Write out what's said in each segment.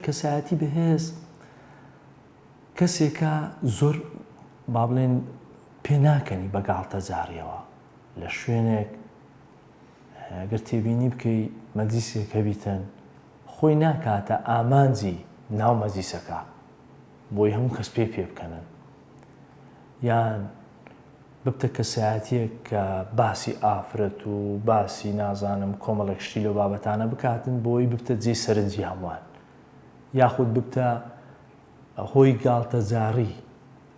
کەسایەتی بەهێز کەسێکە زۆر با بڵێن پێ ناکەنی بە گاڵتەجاڕیەوە لە شوێنێک گەر تێبینی بکەی مەجلیسێک هەبیتن خۆی ناکاتە ئامانجی ناو مەجلیسەکە بۆی هەموو کەس پێ پێ بکەنن یان ببتە کەسایەتیەک کە باسی ئافرەت و باسی نازانم کۆمەڵێک شتی لەو بابەتانە بکاتن بۆی ببتە جێی سەرنجی هەموان یاخود ببتە هۆی گاڵتە جاڕی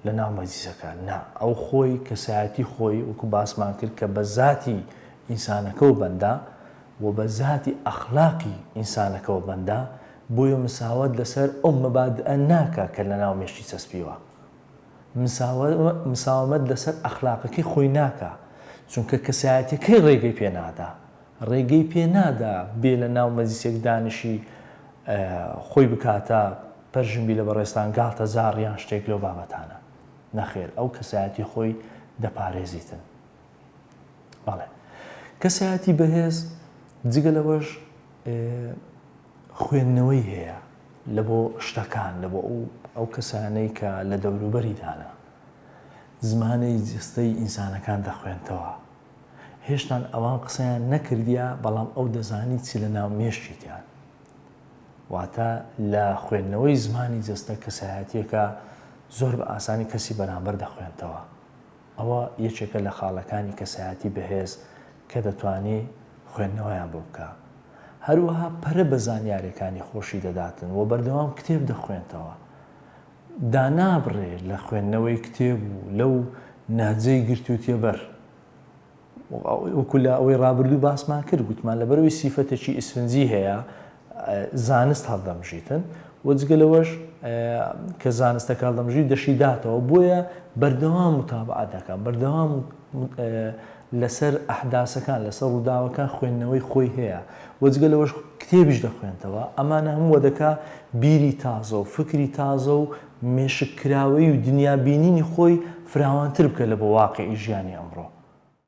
لە ناو مەجلیسەکان نا ئەو خۆی کەسایەتی خۆی وەکو باسمان کرد کە بە زاتی ئینسانەکەو بەندە و بە زاتی ئەخلاقی ئینسانەکەوە بەندە بۆیە مساوات لەسەر ئەو مەبادئە ناکا کە لە ناو مێشکی چەسپیوە. مساوەمەت لەسەر ئەخلاقەکەی خۆی ناکا چونکە کەسایەتیەکەی ڕێگەی پێ نادا ڕێگەی پێ نادا بێ لە ناو مەجلیسێک دانشی خۆی بکاتە پەرژنبی لە بەڕێزتان گاڵتە جاڕ یان شتێک لەو بابەتانە نەخێر ئەو کەسایەتی خۆی دەپارێزیتن بەڵێ کەسایەتی بەهێز جگە لەوەش خوێندنەوەی هەیە لە بۆ شتەکان لە بۆ ئەو کەسانەی کە لە دەوروبەریدانە زمانی جستەی ئینسانەکان دەخوێنتەوە هێشتان ئەوان قسەیان نەکردیا بەڵام ئەو دەزانی چی لە ناو مێشکیتیان واتە لە خوێندنەوەی زمانی جستە کەسایەتیەکە زۆر بە ئاسانی کەسی بەرامبەر دەخوێنتەوە ئەوە یەکێکە لە خاڵەکانی کەسایەتی بەهێز کە دەتوانێ خوێندنەوەیان بۆ بکا. هەروەها پەرە بە زانیارێکانی خۆشی دەداتن و بەردەوام کتێب دەخوێنتەوە. دانابڕێ لە خوێندنەوەی کتێب و لەو نەهجەی گرتووتیە بەر. وەکو لە ئەوەی ڕابردوو باسمان کرد گوتمان لەبەرەوەی سیفەتەکی ئیسفنجی هەیە زانست هەڵدەمژیتن و جگە لەوەش کە زانستەکە هەڵدەمژی دەشی داتەوە بۆیە بەردەوام متابعات دەکەم بەردەوام لەسەر ئەحداسەکان لەسەر ڕووداوەکان خوێندنەوەی خۆی هەیە وەجگە لەوەش کتێبیش دەخوێنتەوە ئەمانە هەمووە دەکا بیری تازە و فکری تازە و مێشک کراوەی و دنیا بینینی خۆی فراوانتر بکە لە بۆ واقعی ژیانی ئەمڕۆ